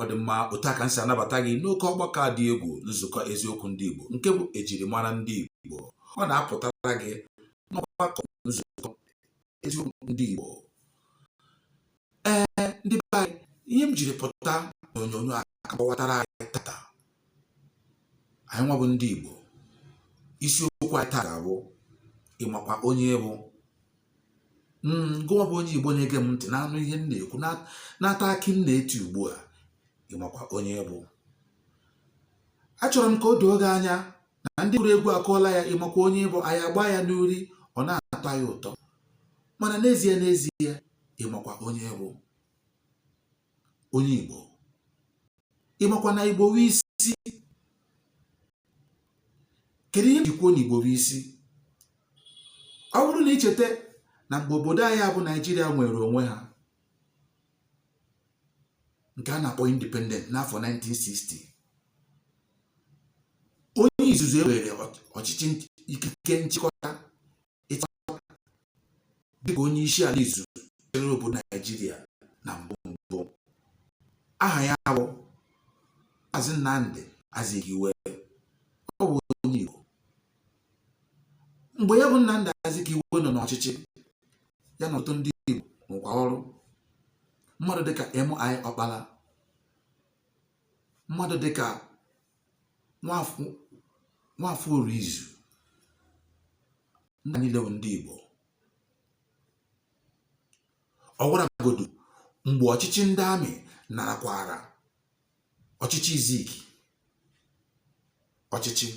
ọ dị mma otu a ka m si anabata gị n'oke ọgbakọ dị egwu nzukọ eziokwu ndị Igbo nke bụ ejirimara ndị Igbo ọ na-apụtara gị n'ọgbakọ nzukọ eziokwu ndị Igbo ee ndị be anyị ihe m jiri pụta n'onyonyo a akọwatara anyị tata anyịnwa bụ ndị Igbo isiokwu anyị taa ga-abụ ị makwa onye ị bụ hmm, gụnwa bụ onye igbo na-ege m ntị na-anụ ihe m na-ekwu na-ata akị m na-eti ugbu a ị makwa onye ị bụ achọrọ m ka o doo gị anya na ndị gụrụ egwu akụọla ya ị makwa onye ị bụ anyị agba ya n'uri ọ na-atọ anyị ụtọ mana n'ezie n'ezie ị makwa onye bụ onye Igbo ị makwa na Igbo bụ isi kedu ihe m ji kwuo na igbo bụ isi ọ bụrụ na i cheta na mgbe obodo anyị bụ naijiria nwere onwe ha nke a na-akpọ independent n'afọ 1960 onye izizi weere ọchịchị ikike nchịkọta dịka onye isi ala izizi chịrị obodo naijiria na mbụ mbụ aha ya bụ Maazị Nnamdi Azikiwe ọ bụ onye Igbo mgbe ya bụ Nnamdi Azikiwe nọ n'ọchịchị ya na ọtụtụ ndị Igbo rụkọ ọrụ mmadụ dịka MI Ọkpara mmadụ dịka Nwafọ Orizu ndị niile bụ ndị Igbo ọ gwara godu mgbe ọchịchị ndị amị narakwara ọchịchị Zik ọchịchị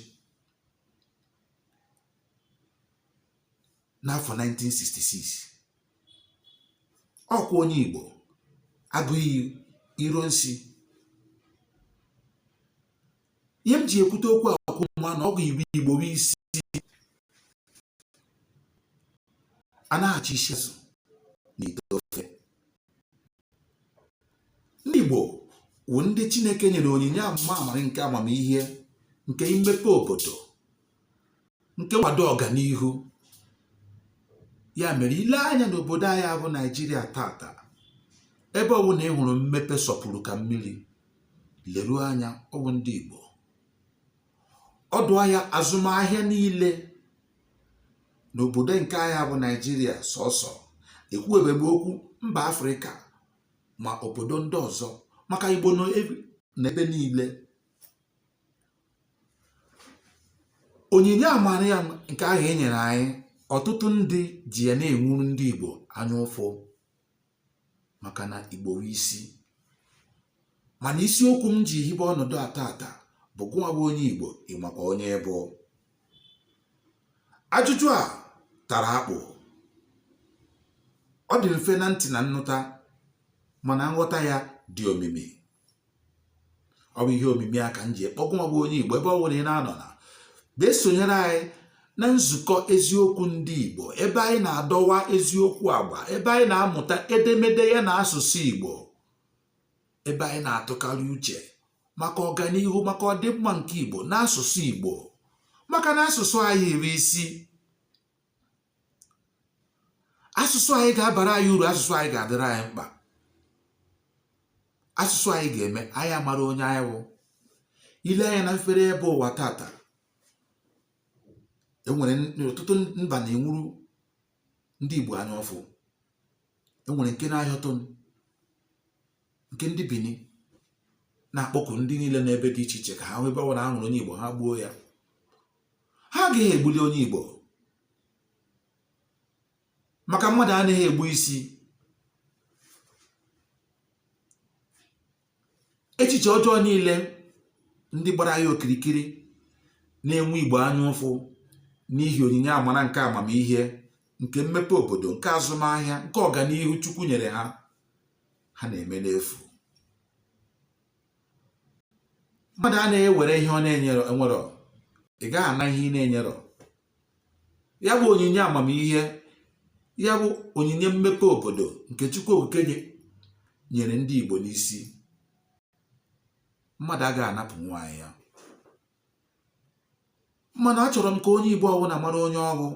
n'afọ 1966 ọ kwa onye Igbo Agụiyi Ironsi ihe m ji ekwute okwu a ka unu ma na ọ bụ Igbo Igbo bụ isi a na-achọ isi azụ n'ite ofe ndị Igbo wụ ndị Chineke nyere onyinye ama amara nke amamihe nke imepe obodo nke nkwado ọganihu ya mere i lee anya n'obodo anyị bụ naijiria tata ebe ọbụla ị hụrụ mmepe sọpụrụ ka mmiri leruo anya ọ wụ ndị igbo ọdụ ahịa azụmahịa niile n'obodo nke anyị bụ naijiria sọsọ ekwuwebe m okwu mba afrịka ma obodo ndị ọzọ maka igbo nọ n'ebe niile onyinye amara ya nke ahụ e nyere anyị ọtụtụ ndị ji ya na-enwuru ndị Igbo anya ụfụ maka na Igbo wụ isi mana isiokwu m ji hibe ọnọdụ a taata bụ gụnwa bụ onye Igbo ị makwa onye ị bụ ajụjụ a tara akpụ ọ dị mfe na ntị na nnụta mana nghọta ya dị omimi ọ bụ ihe omimi a ka m ji akpọ gụnwa bụ onye Igbo ebe ọ bụla ị na-anọ na bịa sonyere anyị na nzukọ eziokwu ndị Igbo ebe anyị na-adọwa eziokwu agba ebe anyị na-amụta edemede ya na asụsụ Igbo ebe anyị na-atụkarị uche maka ọganihu maka ọdịmma nke Igbo n'asụsụ Igbo maka na asụsụ anyị iri isi asụsụ anyị ga-abara anyị uru asụsụ anyị ga-adịrị anyị mkpa asụsụ anyị ga-eme anyị amara onye anyị wụ i lee anya na mfere ebe ụwa taata enwere ọtụtụ mba na-enwuru ndị Igbo anya ụfụ enwere nke na-ahịọtụ nke ndị Bini na-akpọku ndị niile n'ebe dị iche iche ka ha n'ebe ọbụla ha hụrụ onye Igbo ha gbuo ya ha agaghị egbuli onye Igbo maka mmadụ anaghị egbu isi echiche ọjọọ niile ndị gbara ya okirikiri na-enwe Igbo anya ụfụ n'ihi onyinye amara nke amamihe nke mmepe obodo nke azụmahịa nke ọganihu Chukwu nyere ha ha na-eme n'efu mmadụ anaghị ewere ihe ọ na-enwerọ ị gaghị ana ihe ị na-enyerọ ya bụ onyinye amamihe ya bụ onyinye mmepe obodo nke Chukwu Okike nyere ndị Igbo n'isi mmadụ agaghị anapụnwu anyị ya mana achọrọ m ka onye Igbo ọbụla mara onye ọ wụ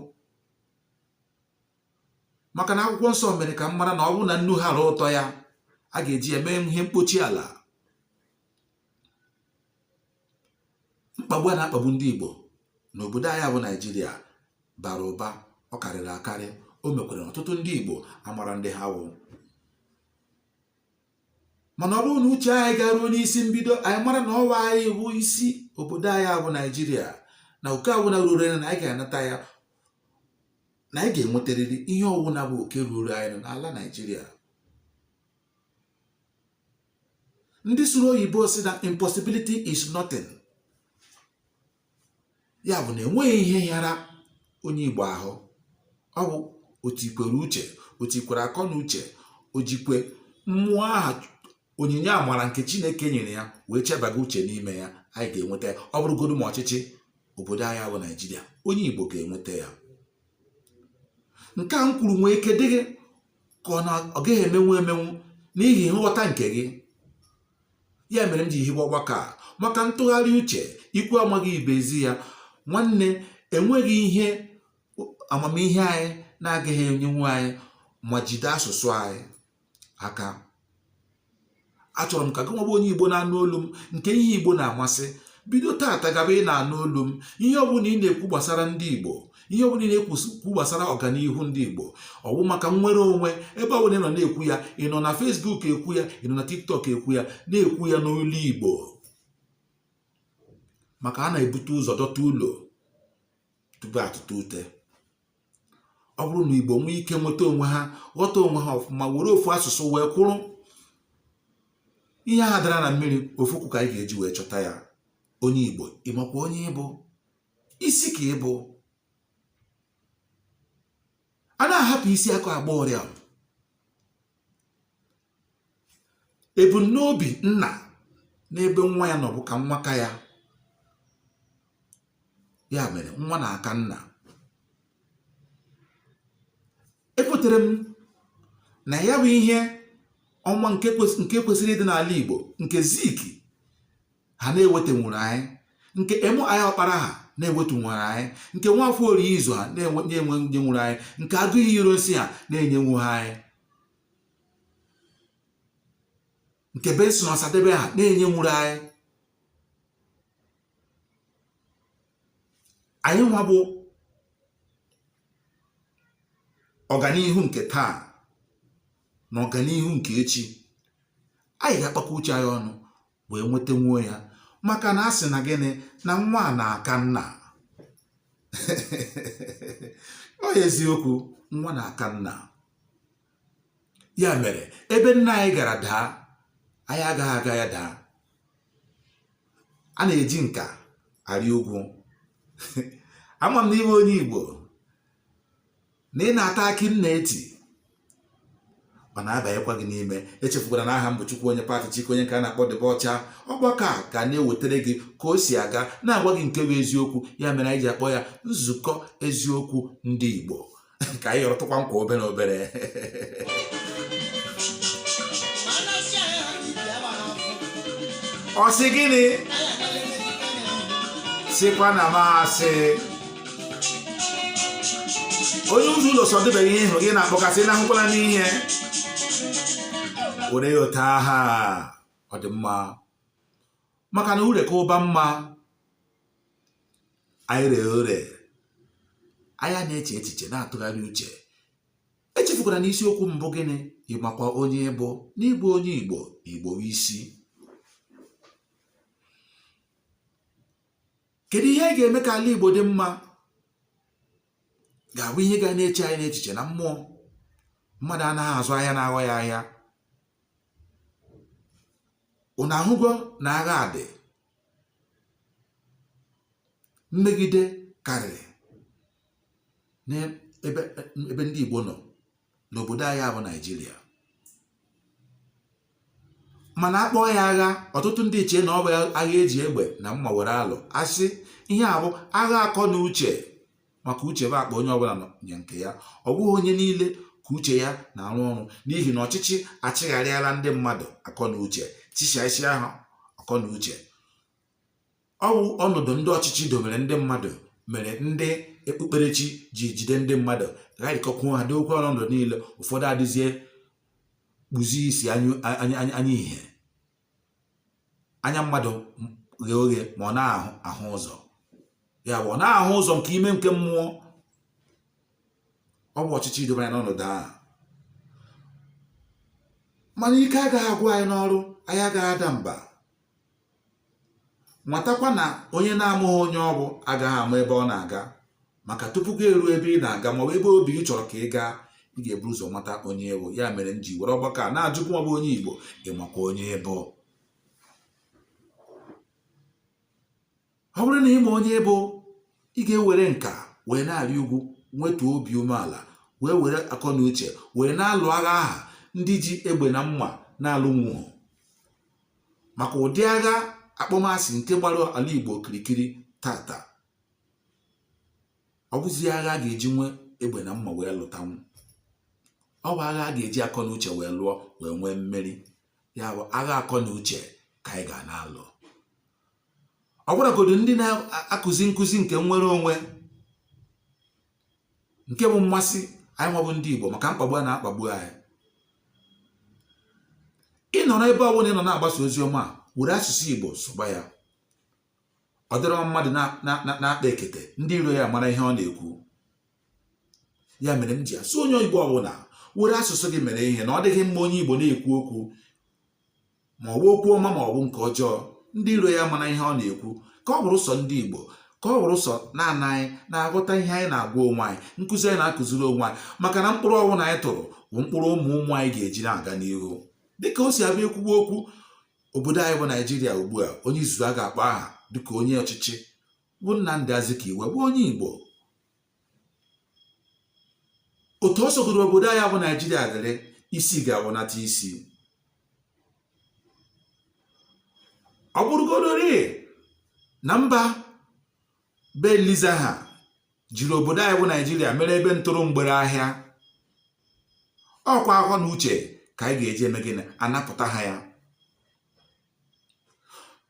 maka na akwụkwọ nsọ mere ka m mara na ọ bụrụ na nnu ghara ụtọ ya a ga-eji ya mee ihe mkpochi ala mkpagbu a na-akpagbu ndị Igbo n'obodo anyị bụ Naijiria bara ụba ọ karịrị akarị o mekwara ọtụtụ ndị Igbo amara ndị ha wụ mana ọ bụrụ na uche anyị garuo n'isi mbido anyị mara na ọ wụ anyị bụ isi obodo anyị bụ Naijiria na oke ọwụna ruru anyị na anyị ga-anata ya na anyị ga-enwetarịrị ihe ọwụna bụ oke ruru anyị n'ala Naịjirịa ndị sụrụ oyibo sị na impossibility is nothing ya bụ na enweghị ihe yara onye Igbo ahụ ọ bụ o tikwere uche o tikwere akọ na uche o jikwe mmụọ aha onyinye amara nke chineke nyere ya wee chebaga uche n'ime ya anyị ga-enweta ya ọ bụrụgodu ma ọchịchị obodo anyị bụ naijiria onye igbo ga-enweta ya nke a m kwuru nwee ike dị gị ka ọ na ọ gaghị emenwu emenwu n'ihi nghọta nke gị ya mere m ji hibe ọgbakọ a maka ntụgharị uche ikwu amaghị ibe ezi ya nwanne enweghị ihe amamihe anyị na-agaghị enyenwu anyị ma jide asụsụ anyị aka achọrọ m ka gị nwa bụ onye igbo na-anụ olu m nke ihe igbo na-amasị bido taata gaba ị na-anụ olu m ihe ọbụla ị na-ekwu gbasara ndị igbo ihe ọbụla ị na-ekwu gbasara ọganihu ndị igbo ọ bụ maka nnwere onwe ebe ọbụla ị nọ na-ekwu ya ị nọ na facebook ekwu ya ị nọ na tiktok ekwu ya na-ekwu ya n'olu igbo maka a na-ebute ụzọ dọta ụlọ tupu atụta ute ọ bụrụ na igbo nwee ike nweta onwe ha ghọta onwe ha ọfụma were ofu asụsụ wee kwụrụ ihe ahụ dara na mmiri ofu ụkwụ ka anyị ga-eji wee chọta ya onye igbo ị makwa onye ị bụ isi ka ị bụ a na-ahapụ isi aka agba ọrịa ebumnobi nna n'ebe nwa ya nọ bụ ka nwa ka ya ya mere nwa na-aka nna ekwetara m na ya bụ ihe ọma nke kwesịrị ịdị n'ala Igbo nke zik ha na-ewetanwuru anyị nke m i ọkpara ha na-ewetanwuru anyị nke nwafọ orizu ha na-enyenwuru anyị nke agụiyi ironsi ha na-enyenwughị anyị nke benson ọsadebe ha na-enyenwuru anyị anyị nwa bụ ọganihu nke taa na ọganihu nke echi anyị ga-akpakọ uche anyị ọnụ wee nwetanwuo ya maka na a sị na gịnị na nwa a na-aka nna ọ eziokwu nwa na-aka nna ya mere ebe nna anyị gara daa anyị agaghị aga ya daa a na-eji nka arị ugwu ama m na ị bụ onye igbo na ị na-ata akị m na-eti ọ na-abanyekwa gị n'ime echefukwara na aha m bụ Chukwuonye Pat Chike onye nke a na-akpọ dibịa ọcha ọgbakọ a ga na-ewetara gị ka o si aga na-agwa gị nke bụ eziokwu ya mere anyị ji akpọ ya nzukọ eziokwu ndị Igbo ka anyị yọrọtụkwa nkwa obere obere ọ sị gịnị sịkwa na m asị onye ụzọ ụlọ sọdịbeghị ihe gị na-akpọkasị na ahụkwala n'ihe were ya ote aha ọ dị mma maka na ure ka ụba mma anyị ree ure anyị na-eche echiche na-atụgharị uche echefukwana na isiokwu m bụ gịnị ị makwa onye ị bụ na ị bụ onye igbo igbo bụ isi kedu ihe a ga-eme ka ala igbo dị mma ga-abụ ihe ga na-eche anyị n'echiche na mmụọ mmadụ anaghị azụ ahịa na-aghọ ya ahịa ụnụ ahụgo na agha adị mmegide karịrị n'ebe ndị Igbo nọ n'obodo anyị bụ Naịjirịa mana a kpọọ ya agha ọtụtụ ndị echee na ọ bụ agha e ji egbe na mma were alụ a sị ihe a bụ agha akọ na uche maka uche bụ akpa onye ọbụla nya nke ya ọ bụghị onye niile ka uche ya na-arụ ọrụ n'ihi na ọchịchị achịgharịala ndị mmadụ akọ na uche chịchasịa ha akọ na uche ọ bụ ọnọdụ ndị ọchịchị dobere ndị mmadụ mere ndị okpukperechi ji jide ndị mmadụ gharịkọkwuo ha dokwe ọnọdụ niile ụfọdụ adịzie kpuzie isi anya ihe anya mmadụ ghe oghe ma ọ naghị ahụ ụzọ ya bụ ọ naghị ahụ ụzọ nke ime nke mmụọ ọ bụ ọchịchị dobere anyị n'ọnọdụ ahụ mana ike agaghị agwụ anyị n'ọrụ anyị agaghị ada mba matakwa na onye na-amaghị onye ọ bụ agaghị ama ebe ọ na-aga maka tupu gị eruo ebe ị na-aga ma ọ bụ ebe obi gị chọrọ ka ị gaa ị ga-ebu ụzọ mata onye ị bụ ya mere m ji were ọgbakọ a na-ajụkwu ma ị bụ onye Igbo ị makwa onye ị bụ ọ bụrụ na ị ma onye ị bụ ị ga-ewere nka wee na-arị ugwu nwetuo obi umeala wee were akọ na uche wee na-alụ agha ahụ ndị ji egbe na mma na-alụnwughị maka ụdị agha akpọmasị nke gbara ala Igbo okirikiri taata ọ bụzighị agha a ga-eji nwee egbe na mma wee lụtanwu ọ bụ agha a ga-eji akọ na uche wee lụọ wee nwee mmeri ya bụ agha akọ na uche ka anyị ga na-alụ ọ bụrụgodu ndị na-akụzi nkụzi nke nnwere onwe nke bụ mmasị anyị nwa bụ ndị Igbo maka mkpagbu a na-akpagbu anyị ị nọrọ ebe ọ bụla ị nọ na-agbasa ozi ọma were asụsụ Igbo sụba ya ọ dịrọ mmadụ na-akpa ekete ndị iro ya amara ihe ọ na-ekwu ya mere m ji asị onye Igbo ọbụla were asụsụ gị mere ihe na ọ dịghị mma onye Igbo na-ekwu okwu ma ọ bụ okwu ọma ma ọ bụ nke ọjọọ ndị iro ya mara ihe ọ na-ekwu ka ọ bụrụ sọ ndị Igbo ka ọ bụrụ sọ naanị anyị na-aghọta ihe anyị na-agwa onwe anyị nkụzi anyị na-akụziri onwe anyị maka na mkpụrụ ọbụla anyị tụrụ bụ mkpụrụ ụmụ ụmụ anyị ga-eji na-aga n'ihu dịka o si abịa ekwuwe okwu obodo anyị bụ naijiria ugbu a onye izizi a ga-akpọ aha dịka onye ọchịchị bụ Nnamdi Azikiwe bụ onye Igbo otu ọ sọgoro obodo anyị bụ naijiria dịrị isi ga-awụnata isi ọ bụrụgodori na mba be Eliza ha jiri obodo anyị bụ naijiria mere ebe ntụrụ mgbere ahịa ọ kwa akọ na uche ka anyị ga-eji eme gịnị anapụta ha ya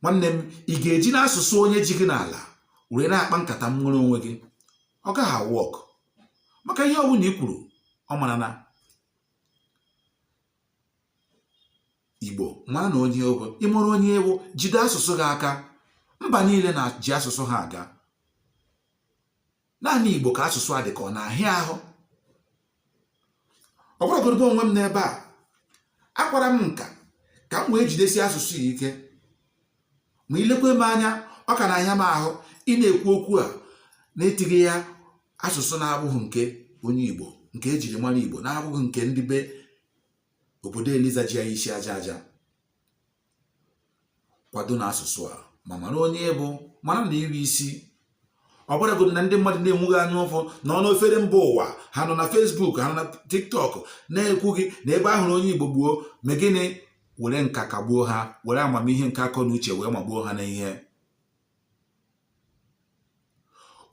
nwanne m ị ga-eji n'asụsụ onye ji gị n'ala were na-akpa nkata nwere onwe gị ọ gaghị a work maka ihe ọbụla i kwuru ọ marana Igbo ma na onye ị bụ ị mara onye ị wụ jide asụsụ gị aka mba niile na-eji asụsụ ha aga naanị Igbo ka asụsụ a dị ka ọ na-ahịa ahụ ọ bụrụgodị mụ onwe m n'ebe a akwara m nka ka m wee jidesi asụsụ a ike ma i lekwa m anya ọ ka na-ahịa m ahụ ị na-ekwu okwu a na-etighị ya asụsụ na-abụghị nke onye Igbo nke e jiri mara Igbo na-abụghị nke ndị be obodo Eliza ji ya isi aja aja kwado na asụsụ a ma mara onye ị bụ mara na ị wụ isi ọ bụrụgodị na ndị mmadụ na-enwe gị anya ụfụ nọ n'ofere mba ụwa ha nọ na Facebook ha nọ na TikTok na-ekwu gị na ebe a hụrụ onye igbo gbuo mee gịnị were nka kagbuo ha were amamihe nke akọ na uche wee magbuo ha n'ihe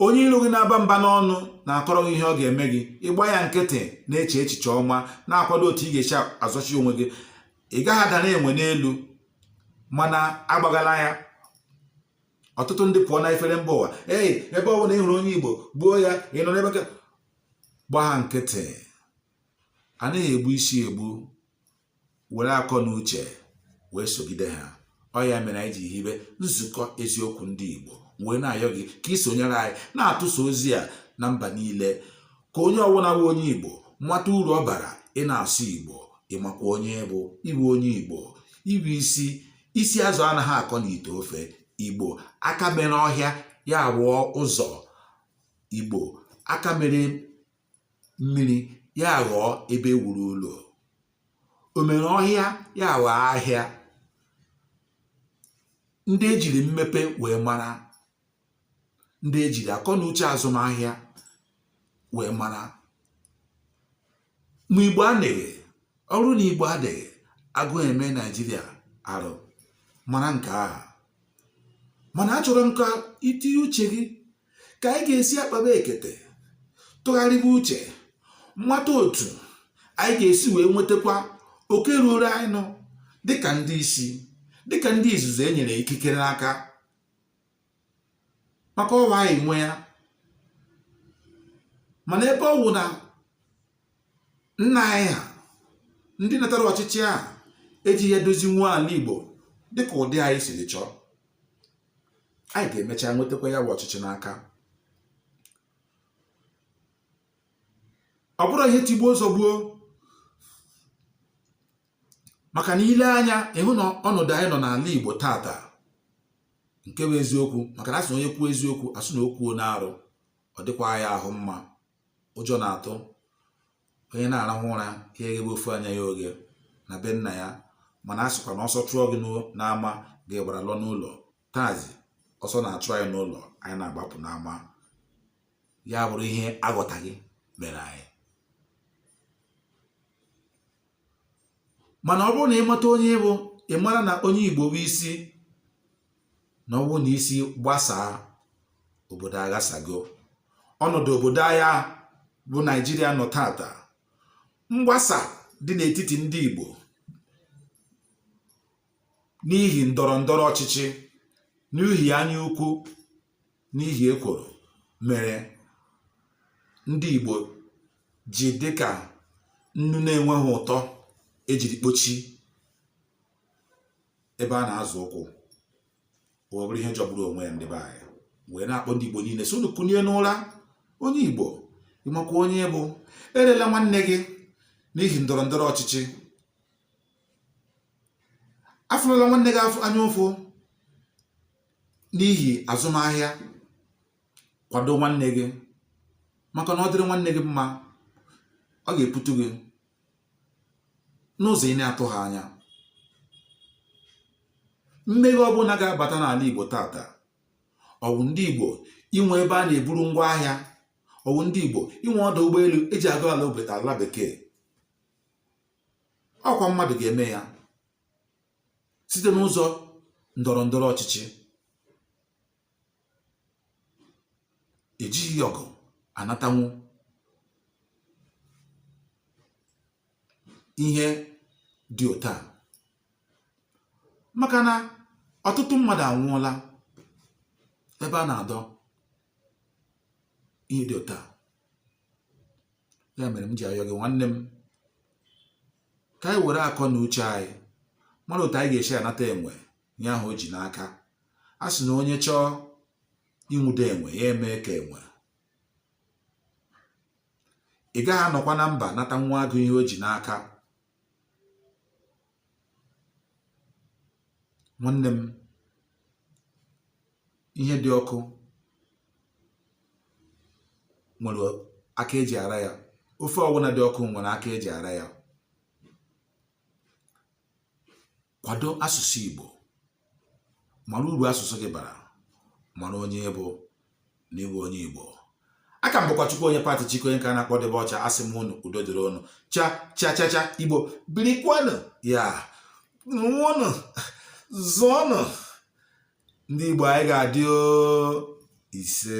onye iro gị na-aba mba n'ọnụ na-akọrọ gị ihe ọ ga-eme gị ị gba ya nkịtị na-eche echiche ọma na-akwado otu ị ga-esi azọchi onwe gị ị gaghị adara enwe n'elu mana agbagala ya ọtụtụ ndị pụọ na efere mba ụwa ee ebe ọ bụla ị hụrụ onye igbo gbuo ya ị nọ n'ebe gba ha nkịtị a naghị egbu isi egbu were akọ na uche wee sogide ha ọ ya mere anyị ji hibe nzukọ eziokwu ndị Igbo wee na-ayọ gị ka ị sonyere anyị na-atụsa ozi a na mba niile ka onye ọbụla bụ onye Igbo mata uru ọ bara ị na-asụ Igbo ị makwa onye ị bụ ị wụ onye Igbo ị wụ isi isi azụ anaghị akọ n'ite ofe Igbo aka mere ọhịa ya awụọ ụzọ Igbo aka mere mmiri ya ghọọ ebe e wuru ụlọ o mere ọhịa ya ghọọ ahịa ndị ejiri mmepe wee mara ndị ejiri akọ na uche azụmahịa wee mara ma igbo adịghị ọrụ na igbo adịghị agụụ eme naijiria arụ mara nke aha mana achọrọ m ka i tinye uche gị ka anyị ga-esi akpaba ekete tụgharịba uche mata otu anyị ga-esi wee nwetakwa oke ruoro anyị nụ dịka ndị isi dịka ndị izuzu e nyere ikikere n'aka maka ọ wụ anyị nwe ya mana ebe ọ wụ na nna anyị ha ndị natara ọchịchị a eji ya dozinwu ala Igbo dịka ụdị anyị siri chọọ anyị ga-emecha nwetakwa ya bụ ọchịchị n'aka ọ bụrụ ihe tigbuo zọgbuo maka na i lee anya ị hụ na ọnọdụ anyị nọ n'ala Igbo tata nke bụ eziokwu maka na asị na onye kwuo eziokwu asị na o kwuona arụ ọ dịkwa ya ahụ mma ụjọ na-atụ onye na-arahụ ụra ya eghebe ofu anya ya oghe na be nna ya mana a sịkwa na ọsọ chụọ gị n'ama gị agbara lọ n'ụlọ taazi ọsọ na-achụ anyị n'ụlọ anyị na-agbapụ n'ama ya abụrụ ihe aghọtaghị mere anyị mana ọ bụrụ na ị mata onye ị bụ ị mara na onye igbo bụ isi na ọ wụ na isi gbasaa obodo aghasago ọnọdụ obodo aha bụ naijiria nọ tata mgbasa dị n'etiti ndị igbo n'ihi ndọrọ ndọrọ ọchịchị n'ihi anya ukwu n'ihi ekworo mere ndị igbo ji dịka nnu na-enweghị ụtọ ejiri kpochi ebe a na-azọ ụkwụ ọ bụrụ ihe jọgburu onwe ya ndị be anyị wee na-akpọ ndị Igbo niile sị unu kunie n'ụra onye Igbo ị makwa onye ị bụ erela nwanne gị n'ihi ndọrọ ndọrọ ọchịchị afụlụla nwanne gị anya ụfụ n'ihi azụmahịa kwado nwanne gị maka na ọ dịrị nwanne gị mma ọ ga-eputu gị n'ụzọ ị na-atụghị anya mmeghe ọbụla ga-abata n'ala Igbo taata ọ wụ ndị Igbo inwe ebe a na-eburu ngwa ahịa ọ wụ ndị Igbo inwe ọdụ ụgbọelu eji aga ala obodo ala bekee ọ kwa mmadụ ga-eme ya site n'ụzọ ndọrọ ndọrọ ọchịchị ejighị ọgụ anatanwu ihe dị otu a maka na ọtụtụ mmadụ anwụọla ebe a na-adọ ihe dị otu a ya mere m ji ayọ gị nwanne m ka anyị were akọ na uche anyị mara otu anyị ga-esi anata enwe ihe ahụ o ji n'aka a sị na onye chọọ ịnwụde enwe ya emee ka enwe ị gaghị anọkwa na mba nata nwa agụ ihe o ji n'aka nwanne m ihe dị ọkụ nwere aka eji ara ya ofe ọbụla dị ọkụ nwere aka eji ara ya kwado asụsụ Igbo mara uru asụsụ gị bara mara onye ị bụ na ị bụ onye Igbo a ka m bụkwa Chukwuonye Patty Chike onye ka a na-akpọ debe ọcha a sị m unu udo dịrị unu cha cha cha cha Igbo birikwanụ yaa mụọnụ zụọnụ ndị Igbo anyị ga-adị ise